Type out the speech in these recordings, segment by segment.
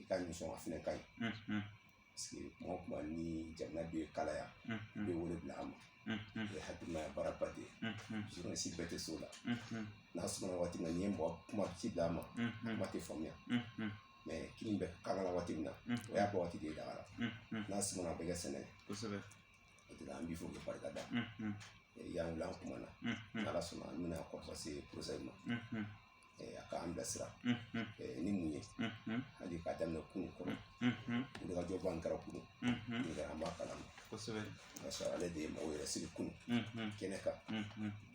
i ka nisɔn a fɛnɛ ka ɲi parce que kuma o kuma ni jamana bɛ kalaya i bɛ wele bila an ma o ye hakilimaya baaraba de ye journaliste bɛɛ tɛ s'o la n'a sɔrɔ waati min na n'i ye mɔgɔ kuma ci d'a ma kuma tɛ faamuya mais kini bɛ kalaya waati min na o y'a bɔ waati de ye daga la n'a sɔrɔ a bɛ kɛ sɛnɛ kosɛbɛ o de la an b'i fo k'i barika da y'an wele an kuma na n'ala sɔnna an bɛna kɔlɔsi ma a k'an bilasira ni mun ye hali k'a daminɛ kunun kɔnɔ wulikajɔba min kɛra kunun kɛra an b'a kalama kosɛbɛ ka sɔrɔ ale de ye mɔgɔw yɛrɛ sigi kunun kɛnɛ kan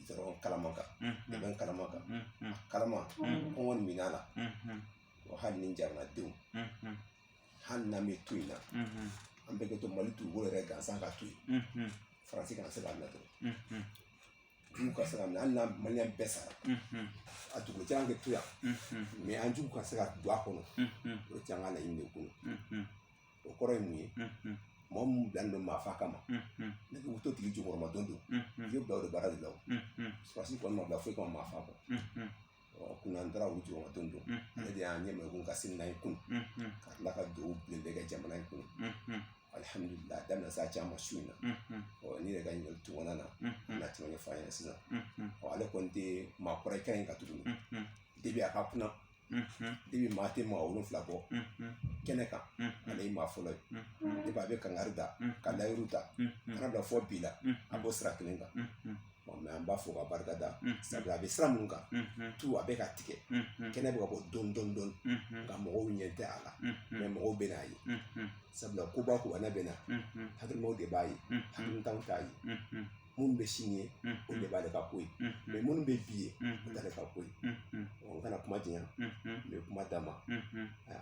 gudɔrɔn kalaman kan dɛmɛ kalaman kan kalaman kɔngɔ ni minnɔgɔ la hali ni jamanadenw hali n'an bɛ to in na an bɛɛ ka to mali dugukolo yɛrɛ gansan ka to yen faransi kana se k'a minɛ dɔrɔn jugu kana se k'a minɛ hali n'a maliyɛn bɛɛ sara a dugukolo gansan ka to yan mais an jugu kana se ka don a kɔnɔ o caman ka laɲini de kɔnɔ o kɔrɔ ye mun ye mɔgɔ min bilalen don maa fa kama n'i bɛ t'o tigi jukɔrɔma don don i bɛ bila o de baara de la o sɔrɔdasi kɔni ma bila foyi kama maa fa kɔ kunun an taara u jukɔrɔma don don ale de y'an ɲɛmɛ ko ka sini n'an ye kunun ka tila ka dugawu bilen bɛɛ kɛ jamana in kun alihamdulila daminɛ sa caman su in na ɔ ne yɛrɛ ka ɲininkali tun na na tɛmɛ ne fa ɲɛna sisan ɔ ale kɔni tɛ maa kɔrɔ kan in ka tuguni depuis a ka kunna depuis maa tɛ maa wolonfila bɔ kɛnɛ kan ale ye maa fɔlɔ ye depuis a bɛ kangari da ka layidu ta ka na bila fɔ bi la a b'o sira kelen kan mais an b'a fɔ ka barika da sabu a bɛ sira minnu kan tu a bɛ ka tigɛ kɛnɛ bɛ ka bɔ dɔɔni dɔɔni nka mɔgɔw ɲɛ tɛ a la mais mɔgɔw bɛn'a ye sabula koba koba n'a bɛ na hakilimaw de b'a ye hakilintanw t'a ye minnu bɛ sini ye o de b'ale ka ko ye mais minnu bɛ bi ye o t'ale ka ko ye n kana kuma janya n bɛ kuma d'a ma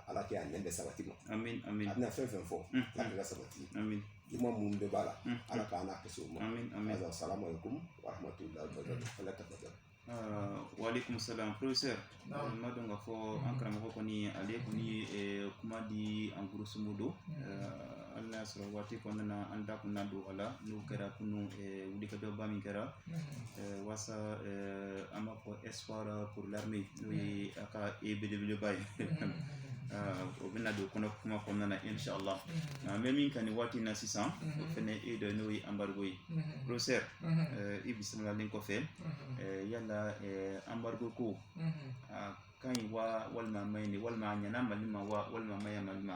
ala kɛ a nɛn bɛ sabati ma a bɛna fɛn fɛn fɔ k'a bɛɛ ka sabati juguman minnu bɛɛ b'a la ala k'an n'a kisi o ma salamu aleykum wa rahmatulahi wa barakatuh al fatiha waaleykum salaam professeur n b'a dɔn k'a fɔ an karamɔgɔ kɔni ale kɔni ye kuma di en grosso modo hali n'a y'a sɔrɔ waati kɔnɔna na an da kun na don a la n'o kɛra kunun wulikajɔba min kɛra waasa an b'a fɔ espoir pour l'armée n'o ye a ka a belebeleba ye o bɛna don kɔnɔ kuma kɔnɔna na inshallah an bɛ min kan nin waati in na sisan o fɛnɛ ye dɔ n'o ye embargo ye professeur i bisimilalen kɔfɛ yala embargo ko a ka ɲi wa walima a man ɲi walima a ɲɛna mali ma wa walima a ma ɲɛ mali ma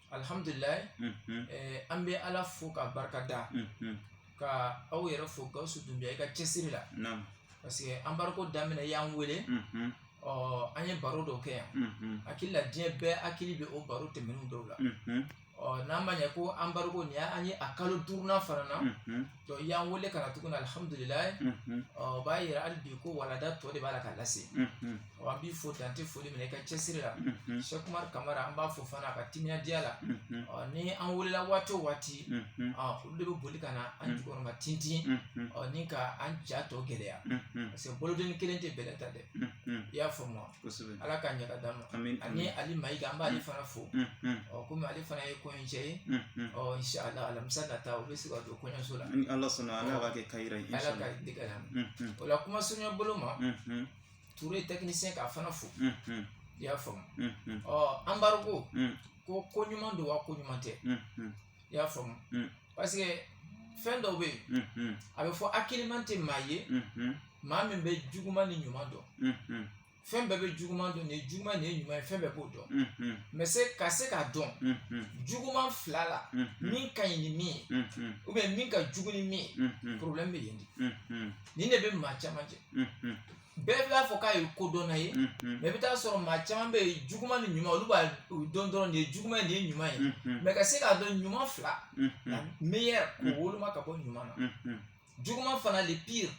alihamdulila an bɛ ala fo ka barika da ka aw yɛrɛ fo gawusu dunbiya i ka cɛsiri la parce que embargo daminɛ y'an wele ɔ an ye baro dɔ kɛ yan hakili la diɲɛ bɛɛ hakili bɛ o baro tɛmɛnen dɔw la ɔ n'an ma ɲɛ ko embargo nin an ye a kalo duurunan fana na Donc i y'an wele ka na tuguni alihamudulilayi unhun ɔ o b'a yira hali bi ko walanda tɔ de b'a la ka lase unhun ɔ an b'i fo dan tɛ foli min na i ka cɛsiri la unhun sɛkumari kamara an b'a fo fana a ka timinadiya la unhun ɔ ni an welela waati o waati unhun ɔ olu de bɛ boli ka na an jukɔrɔma tintin unhun ɔ ni ka an ja tɔ gɛlɛya unhun parce que bolodenni kelen tɛ bɛlɛ ta dɛ unhun i y'a faamu wa ala k'a ɲɛ ka d'a ma ani ali mayiga an b'ale fana fo ɔ kɔmi ale fana ye kɔɲɔcɛ ye ɔ inshallah alamisa nata o bɛ se ka don kɔɲɔso la ni ala sɔnna ala k'a kɛ kayira ye ala ka den kɛ a la o la kuma surunya bolo ma ture tɛkinisɛn k'a fana fo i y'a faamu ɔ embargo ko ko ɲuman don wa ko ɲuman tɛ i y'a faamu mm. parce que fɛn dɔw bɛ yen mm-hmm. a bɛ fɔ hakiliman tɛ maa ye mm-hmm. maa min bɛ juguman ni ɲuman dɔn mm-hmm. fɛn bɛɛ bɛ juguman dɔn nin ye juguman nin ye ɲuman ye fɛn bɛɛ b'o dɔn mɛ ka se k'a dɔn juguman fila la min ka ɲi ni min ye ou bien min ka jugu ni min ye problème bɛ yen de nin de bɛ maa caman jɛ bɛɛ b'a fɔ k'a ye kodɔnna ye mɛ i bɛ taa sɔrɔ maa caman bɛ yen juguman ni ɲuman olu b'a dɔn dɔrɔn nin ye juguman nin ye ɲuman ye mɛ ka se k'a dɔn ɲuman fila meilleur k'o woloma ka bɔ ɲuman na juguman fana le pire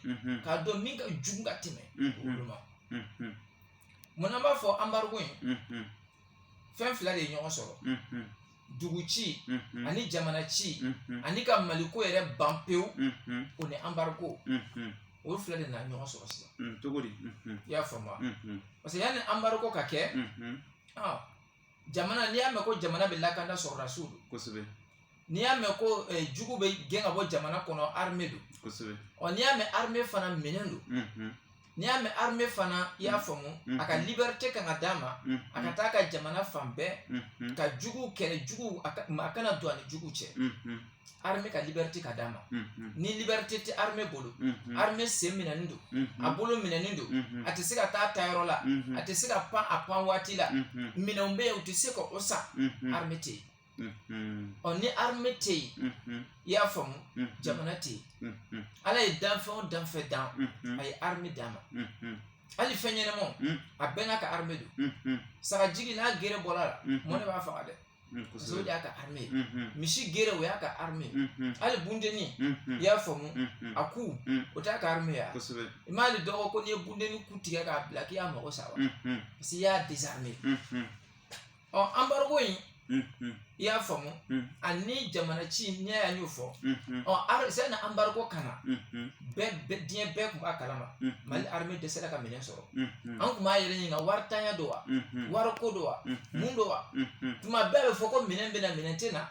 k'a dɔn min ka jugu ka tɛmɛ woloma mun na n b'a fɔ embargo in fɛn fila de ye ɲɔgɔn sɔrɔ dugu ci ani jamana ci ani ka mali ko yɛrɛ ban pewu o ni embargo olu fila de nana ɲɔgɔn sɔrɔ sisan cogo di i y'a faamu parce que yanni embargo ka kɛ jamana n'i y'a mɛn ko jamana bɛ lakanda sɔrɔdasiw don kosɛbɛ n'i y'a mɛn ko eh, jugu bɛ gɛn ka bɔ jamana kɔnɔ armée don kosɛbɛ ɔ n'i y'a mɛn armée fana minɛn don n'i y'a mɛn armée fana i y'a faamu a ka liberté kan ka d'a ma a ka taa ka jamana fan bɛɛ ka juguw kɛlɛ juguw a kana don a ni juguw cɛ armée ka liberté ka d'a ma ni liberté tɛ armée bolo armée sen minɛnen don a bolo minɛnen don a tɛ se ka taa taayɔrɔ la a tɛ se ka pan a pan waati la minɛnw bɛ yen u tɛ se ka o san armée tɛ yen ɔ ni armée tɛ yen i y'a faamu jamana tɛ yen ala ye danfɛn o danfɛn dan a ye armée d'a ma hali fɛn ɲɛnamaw a bɛɛ n'a ka armée don sagajigi n'a gere bɔr'a la mɔnɛ b'a faga dɛ parce que o de y'a ka armée ye misi gere o y'a ka armée ye hali bundenni i y'a faamu a ku o t'a ka armée ye wa i m'ale dɔn ko n'i ye bundenni ku tigɛ k'a bila k'i y'a mago sa wa parce que i y'a désarmé ɔ anbariko in i y'a faamu ani jamana ci n'i y'a y'o fɔ ɔ sani anbariko ka na diɲɛ bɛɛ tun b'a kalama mali arime dɛsɛra ka minɛn sɔrɔ an tun b'an yɛrɛ ɲininka waritanya don wa wariko don wa mun don wa tuma bɛɛ a bɛ fɔ ko minɛn bɛ na minɛn tɛ na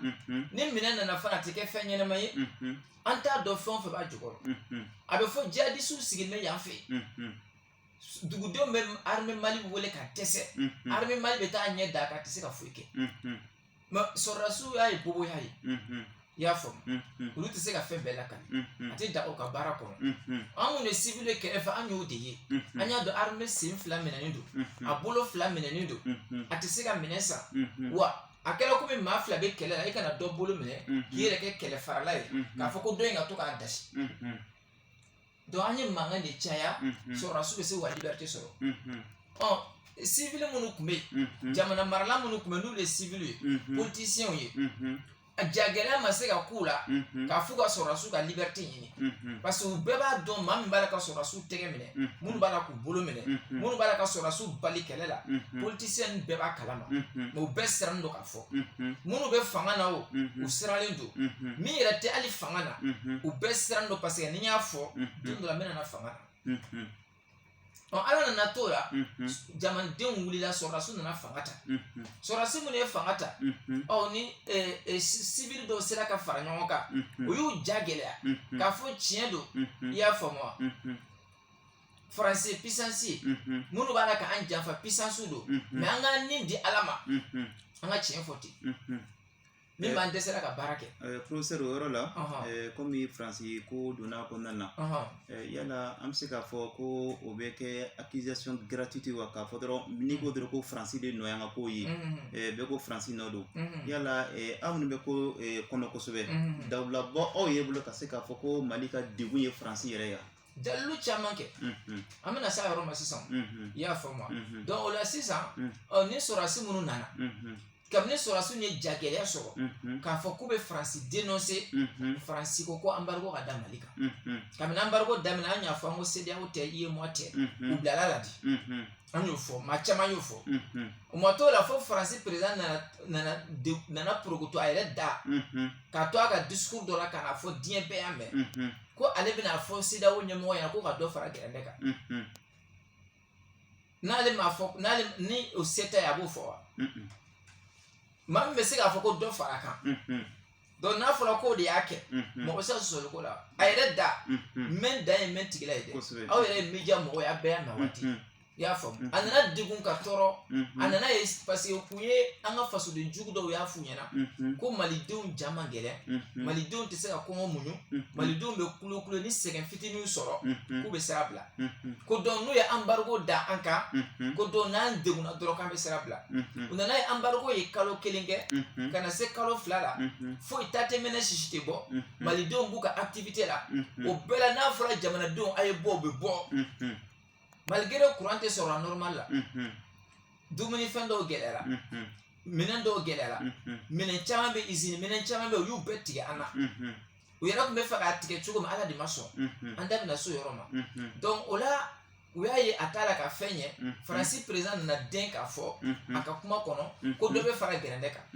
ni minɛn nana fana a tɛ kɛ fɛn ɲɛnama ye an t'a dɔn fɛn o fɛn b'a jukɔrɔ a bɛ fɔ jihadisiw sigilen bɛ yan fɛ yen dugudenw bɛ armée Mali wele ka dɛsɛ armée Mali bɛ taa ɲɛ da a kan a tɛ se ka foyi kɛ mais sɔrɔdasiya ye boboya ye i y'a faamu olu tɛ se ka fɛn bɛɛ lakali a tɛ daga u ka baara kɔnɔ an minnu ye civil ye kɛrɛfɛ an y'o de ye an y'a dɔn armée sen fila minɛnen don a bolo fila minɛnen don a tɛ se ka minɛn san wa a kɛra komi maa fila bɛ kɛlɛ la i ka na dɔ bolo minɛ k'i yɛrɛ kɛ kɛlɛ farala ye k'a fɔ ko dɔ in ka to k'a dasi donc an ye mankan de caya sɔrɔdasiw bɛ se ka liberite sɔrɔ ɔ sivili minnu tun bɛ yen jamana marala minnu tun bɛ n'olu ye sivili ye politisiyɛnw ye a jagɛlɛya ma se ka k'u la k'a f'u ka sɔrɔdasiw ka liberite ɲini parce que u bɛɛ b'a dɔn maa min b'a la ka sɔrɔdasiw tɛgɛ minɛ minnu b'a la k'u bolo minɛ minnu b'a la ka sɔrɔdasiw bali kɛlɛ la politisiyɛn bɛɛ b'a kalama mɛ u bɛɛ sirannen don k'a fɔ fɔ minnu bɛ fanga na o u siralen don min yɛrɛ tɛ hali fanga na u bɛɛ sirannen don paseke n'i y'a fɔ don dɔ la n bɛna na fanga na ɔ ala nana t'o la jamanadenw wulila sɔrɔdasiw nana fanga ta sɔrɔdasi minnu ye fanga ta u ni sivili dɔw sera ka fara ɲɔgɔn kan o y'u ja gɛlɛya k'a fɔ tiɲɛ don i y'a faamu wa faransi pisansi ye minnu b'a la k'an janfa pisansiw don mɛ an ka ni di ala ma an ka tiɲɛ fɔ ten min b'an dɛsɛra ka baara kɛ porofesɛri o yɔrɔ la kɔmi faransi ko donna kɔnɔna na yala an bɛ se k'a fɔ ko o bɛ kɛ accusation gratuite wa k'a fɔ dɔrɔn n'i ko dɔrɔn ko faransi de nɔ y'an ka ko ye bɛɛ ko faransi nɔ don yala aw minnu bɛ ko kɔnɔ kosɛbɛ dalilu b'aw yɛrɛ bolo ka se k'a fɔ ko mali ka degun ye faransi yɛrɛ ye wa dalilu caman kɛ an bɛna se a yɔrɔ ma sisan i y'a faamu donc o la sisan ni sɔrɔsi minnu nana kabini sɔrɔsiw ye jagɛlɛya sɔrɔ k'a fɔ k'u bɛ faransi dénoncer faransi ko ko anbariko ka da mali kan kabini anbariko daminɛ an y'a fɔ an ko CEDEAO tɛ UEMOA tɛ u bilala la di an y'o fɔ maa caman y'o fɔ o ma t'o la fo faransi peresidan nana porokoto a yɛrɛ da k'a to a ka discours dɔ la k'a fɔ diɲɛ bɛɛ y'a mɛn ko ale bɛna a fɔ CEDEAO ɲɛmɔgɔ ɲɛna ko ka dɔ fara gɛrɛndɛ kan n'ale m'a fɔ n'ale ni o se t'a ye a b'o fɔ wa maa min bɛ se k'a fɔ ko dɔ fara kan donc n'a fɔra k'o de y'a kɛ mɔgɔ bɛ se ka sɔsɔli k'o la a yɛrɛ da mɛn dan ye mɛn tigi la ye dɛ aw yɛrɛ ye media mɔgɔ ye a bɛɛ y'a mɛn waati i y'a faamu a nana degun ka tɔɔrɔ a nana ye parce que kun ye an ka fasoden jugu dɔw y'a f'u ɲɛna ko malidenw ja man gɛlɛn malidenw tɛ se ka kɔngɔ muɲu malidenw bɛ kulokulo ni sɛgɛn fitininw sɔrɔ k'u bɛ sira bila ko donc n'u ye embargo da an kan ko donc n'an degunna dɔrɔn k'an bɛ sira bila u nana ye embargo ye kalo kelen kɛ ka na se kalo fila la foyi ta tɛ mɛnɛ sisi tɛ bɔ malidenw b'u ka activité la o bɛɛ la n'a fɔra jamanadenw a ye bɔ u bɛ bɔ malgré kuran tɛ sɔrɔ normal la dumuni fɛn dɔw gɛlɛyara minɛn dɔw gɛlɛyara minɛn caman bɛ izini minɛn caman bɛ u y'u bɛɛ tigɛ an na u yɛrɛ tun b'a fɛ k'a tigɛ cogo min ala de ma sɔn an da bɛna so yɔrɔ ma donc o la u y'a ye a t'a la ka fɛn ɲɛ faransi président nana den k'a fɔ a ka kuma kɔnɔ ko dɔ bɛ fara gɛrɛndɛ kan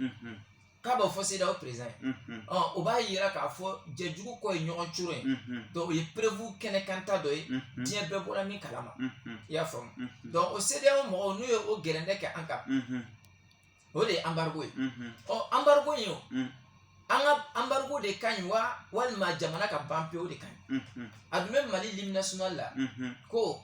k'a b'o fɔ CEDEAO président ye o b'a yira k'a fɔ jɛjugu kɔ ye ɲɔgɔn curo ye donc o ye preuve kɛnɛkanta dɔ ye diɲɛ bɛɛ bɔra min kalama i y'a faamu donc o CEDEAO mɔgɔw n'u ye o gɛrɛndɛ kɛ an kan o de ye embargo ye ɔ embargo in o an ka embargo de ka ɲi wa walima jamana ka ban pewu de ka ɲi a dun bɛ mali l'hymne national la ko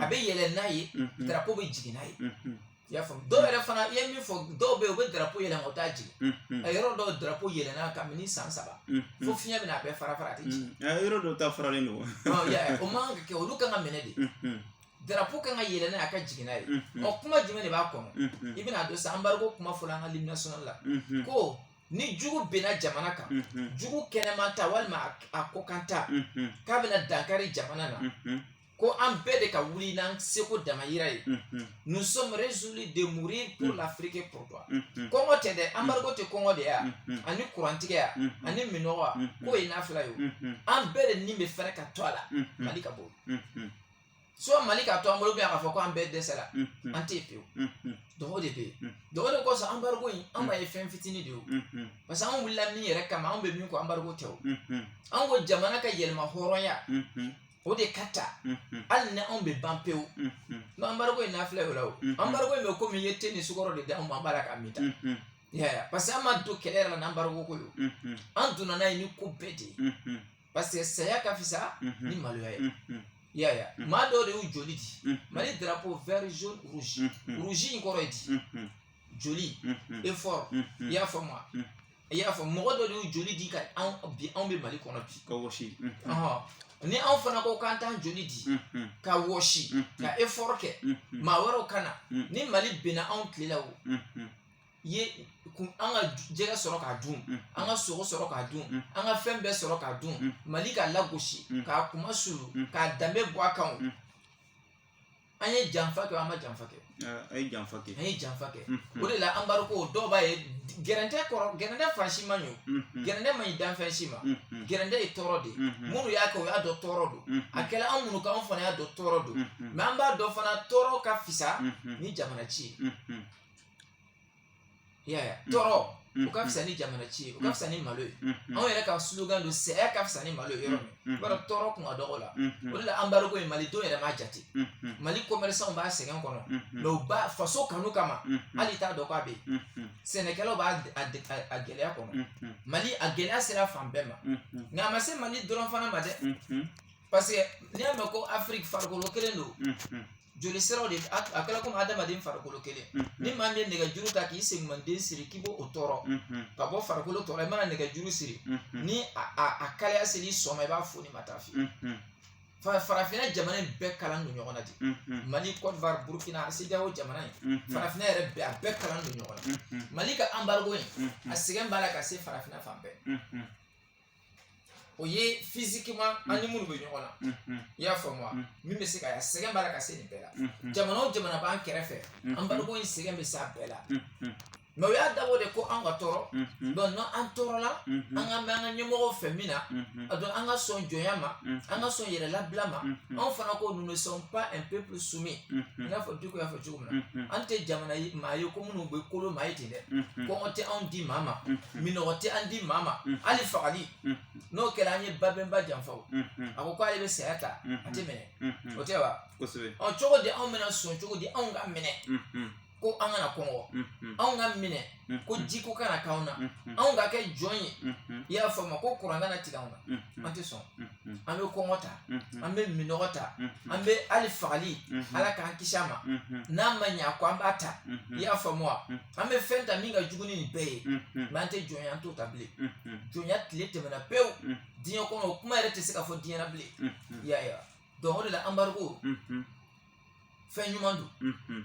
a bɛ yɛlɛ n'a ye darapo bɛ jigin n'a ye i y'a faamu dɔw yɛrɛ fana i ye min fɔ dɔw bɛ yen u bɛ darapo yɛlɛn u t'a jigin a yɔrɔ dɔw darapo yɛlɛnna kabini san saba fo fiɲɛ bɛna a bɛɛ fara fara a tɛ jigin yɔrɔ dɔw ta faralen don o man kan ka kɛ olu kan ka minɛ de darapo kan ka yɛlɛ n'a ye a ka jigin n'a ye ɔ kuma jumɛn de b'a kɔnɔ i bɛna dɔn sa embargo kuma fɔla an ka l'hymne national la ko ni jugu binna jamana kan jugu kɛnɛma ta walima a kɔkan ta k'a bɛna dankari jamana na ko an bɛɛ de ka wuli n'an seko damayira ye nous sommes résolus de mourir pour l'Afrique et pour toi kɔngɔ tɛ dɛ embargo tɛ kɔngɔ de ya ani kurantigɛ ya ani minnɔgɔ ya k'o ye nafila ye an bɛɛ de ni bɛ fɛrɛ ka to a la Mali ka bɔ soit Mali ka to an bolo ou bien k'a fɔ ko an bɛɛ dɛsɛra an tɛ pewu donc o de bɛ yen donc o de kosɔn embargo in an b'a ye fɛn fitinin de ye o parce que an wulila min yɛrɛ kama an bɛ min ko embargo tɛ o an ko jamana ka yɛlɛma hɔrɔnya o de ka ta hali ni anw bɛ ban pewu embargo in n'a filɛ o la o embargo in bɛ komi i ye te ni sukɔrɔ de di anw ma an b'a la k'a min ta yaya parce que an ma don kɛlɛ yɛrɛ la n'embargo ko don an donna n'a ye ni ko bɛɛ de ye parce que saya ka fisa ni maloya ye yaya maa dɔw de y'u joli di mali drapeau vert jaune rouge rouge in kɔrɔ ye di joli effort i y'a faamu wa i y'a faamu mɔgɔ dɔw de y'u joli di ka anw bi anw bɛ mali kɔnɔ bi ka wɔsi ni anw fana ko k'an t'an joli di ka wɔsi ka effort kɛ maa wɛrɛw ka na ni mali binna anw tile la o ye an ka jɛgɛ sɔrɔ k'a dun an ka sogo sɔrɔ k'a dun an ka fɛn bɛɛ sɔrɔ k'a dun mali ka lagosi k'a kunmasuuli k'a danbe bɔ a kan an ye janfa kɛ an ma janfa kɛ an ye janfa kɛ o de la embargo dɔw b'a ye gɛrɛntɛ kɔrɔ gɛrɛntɛ fan si man ɲi gɛrɛntɛ man ɲi danfɛn si ma gɛrɛntɛ ye tɔɔrɔ de minnu y'a kɛ o y'a dɔn tɔɔrɔ don a kɛra an minnu kan an fana y'a dɔn tɔɔrɔ don mais an b'a dɔn fana tɔɔrɔ ka fisa ni jamana ci ye i y'a ye wa tɔɔrɔ o ka fisa ni jamana ci ye o ka fisa ni malo ye anw yɛrɛ ka slogan don saya ka fisa ni malo ye yɔrɔ min i b'a dɔn tɔɔrɔ kun ka dɔgɔ la o de la embargo in malidenw yɛrɛ m'a jate mali commerçanw b'a sɛgɛn kɔnɔ mais u b'a faso kanu kama hali i t'a dɔn k'a bɛ yen sɛnɛkɛlaw b'a gɛlɛya kɔnɔ mali a gɛlɛya sera fan bɛɛ ma nka a ma se mali dɔrɔn fana ma dɛ parce que n'i y'a mɛn ko afiriki farikolo kelen don joli siraw de a a kɛra komi adamaden farikolo kelen ni maa min ye nɛgɛjuru ta k'i segumanden siri k'i b'o o tɔɔrɔ ka bɔ farikolo tɔɔrɔ i mana nɛgɛjuru siri ni a a a kalaya sel'i sɔn ma i b'a foni ma taa fɛ fa farafinna jamana in bɛɛ kalan don ɲɔgɔn na de mali côte d'ivoire burkina CEDEAO jamana in farafinna yɛrɛ bɛɛ a bɛɛ kalan don ɲɔgɔn na mali ka embargo in a sɛgɛn b'a la ka se farafinna fan bɛɛ o ye physiquement mm. an ni minnu bɛ ɲɔgɔn na mm-hmm. i y'a faamu wa mm. min bɛ se ka sɛgɛn b'a la ka se nin bɛɛ la mm-hmm. jamana o jamana b'an kɛrɛfɛ mm-hmm. embargo in sɛgɛn bɛ s'a bɛɛ la mais o y'a dabɔ de ko an ka tɔɔrɔ donc n'an an tɔɔrɔla an ka mɛn an ka ɲɛmɔgɔw fɛ min na a dɔn an ka sɔn jɔnya ma an ka sɔn yɛrɛ labila ma anw fana ko nous ne sommes pas un peuple soumis i n'a fɔ Diko y'a fɔ cogo an tɛ jamana maa ye ko minnu bɛ kolo maa ye ten dɛ kɔngɔ tɛ anw di maa ma minnɔgɔ tɛ an di maa ma hali fagali n'o kɛra an ye babɛnba janfa a ko k'ale bɛ saya ta a tɛ minɛ o tɛ wa ɔ cogo di anw bɛna sɔn cogo di anw ka minɛ ko an kana kɔngɔ anw ka minɛ mm-hmm. ko jiko kana k'anw na mm-hmm. anw ka kɛ jɔn ye mm-hmm. i y'a faamu ko kuran kana tigɛ anw na an tɛ sɔn an bɛ kɔngɔ ta an bɛ minnɔgɔ ta an bɛ hali fagali ala k'an kisi a ma n'a ma ɲɛ a kɔ an b'a ta i y'a faamu wa an bɛ fɛn ta min ka jugu ni nin bɛɛ ye mais an tɛ jɔnya an t'o ta bilen jɔnya tile tɛmɛna pewu diɲɛ kɔnɔ o kuma yɛrɛ tɛ se ka fɔ diɲɛ na bilen i y'a ye wa donc o de la embargo fɛn ɲuman don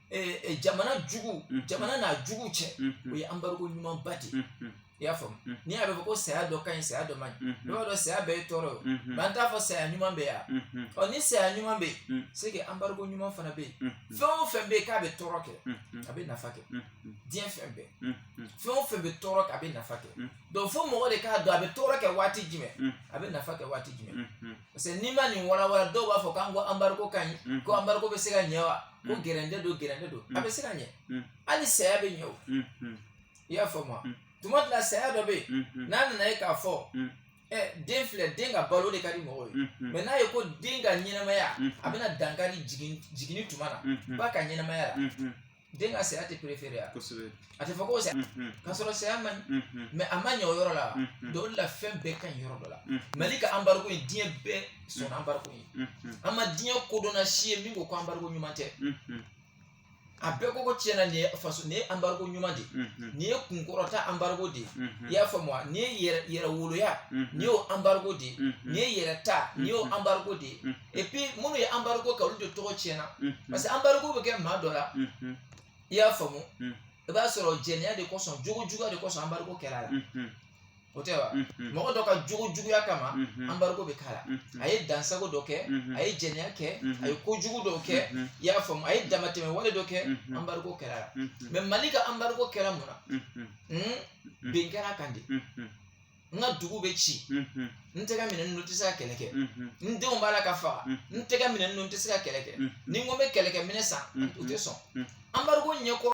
jamana jugu jamana n'a jugu cɛ o ye embargo ɲumanba de ye i y'a faamu ni a bɛ fɔ ko saya dɔ ka ɲi saya dɔ man ɲi i b'a dɔn saya bɛɛ ye tɔɔrɔ ye mais an t'a fɔ saya ɲuman bɛ yan ɔ ni saya ɲuman bɛ yen c'est que embargo ɲuman fana bɛ yen fɛn o fɛn bɛ yen k'a bɛ tɔɔrɔ kɛ a bɛ nafa kɛ diɲɛ fɛn bɛɛ fɛn o fɛn bɛ tɔɔrɔ kɛ a bɛ nafa kɛ donc fo mɔgɔ de k'a dɔn a bɛ tɔɔrɔ kɛ waati jumɛn a bɛ nafa kɛ waati jumɛn parce que n'i ma nin walawala dɔw b'a fɔ k'an ko embargo ka ɲi ko embargo bɛ se ka ɲɛ wa ko gɛrɛntɛ don gɛrɛntɛ don a bɛ se ka ɲɛ hali saya bɛ ɲɛ o i y'a faamu wa tuma dɔ la saya dɔ bɛ yen n'a nana ye k'a fɔ den filɛ den ka balo de ka di mɔgɔw ye mais n'a ye ko den ka ɲɛnamaya a bɛna dankari jiginni tuma na ba ka ɲɛnamaya la den ka saya tɛ préféré wa a tɛ fɔ ko saya k'a sɔrɔ saya man ɲi mais a ma ɲɛ o yɔrɔ la donc o de la fɛn bɛɛ ka ɲi yɔrɔ dɔ la mali ka embargo ye diɲɛ bɛɛ sɔn embargo ye an ma diɲɛ kodɔnna si ye min ko ko embargo ɲuman tɛ a bɛɛ ko ko tiɲɛ na nin ye faso nin ye embargo ɲuman de nin ye kunkɔrɔta embargo de i y'a faamu wa nin ye yɛrɛwoloya nin y'o embargo de nin ye yɛrɛta nin y'o embargo de et puis minnu ye embargo kɛ olu de tɔgɔ tiɲɛna parce que embargo bɛ kɛ maa dɔ la i y'a faamu i b'a sɔrɔ jɛnɛya de kosɔn jogojuguya de kosɔn embargo kɛra a la o tɛ wa mɔgɔ dɔ ka jogojuguya kama embargo bɛ k'a la a ye dansagon dɔ kɛ a ye jɛnɛya kɛ a ye kojugu dɔ kɛ i y'a faamu a ye damatɛmɛ wale dɔ kɛ embargo kɛra a la mais mali ka embargo kɛra mun na bin kɛra kan de n ka dugu bɛ ci n tɛgɛ minɛn ninnu tɛ se ka kɛlɛ kɛ n denw b'a la ka faga n tɛgɛ minɛn ninnu tɛ se ka kɛlɛ kɛ ni n ko n bɛ kɛlɛkɛminɛn san u tɛ sɔn embargo ɲɛkɔrɔ